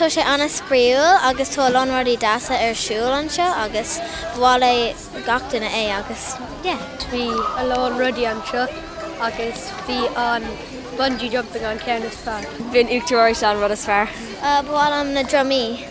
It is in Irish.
Tá sé ana spraíúil agus tá a lán rudaí deasa ar siúl anseo agus ba mhaith le gach duine é agus yeah. Bhí a lán rudaí anseo agus bhí an bungee jumping an ceann is fearr. Bhí an Uachtaráis an rud is fearr. Ba mhaith liom na drumaí.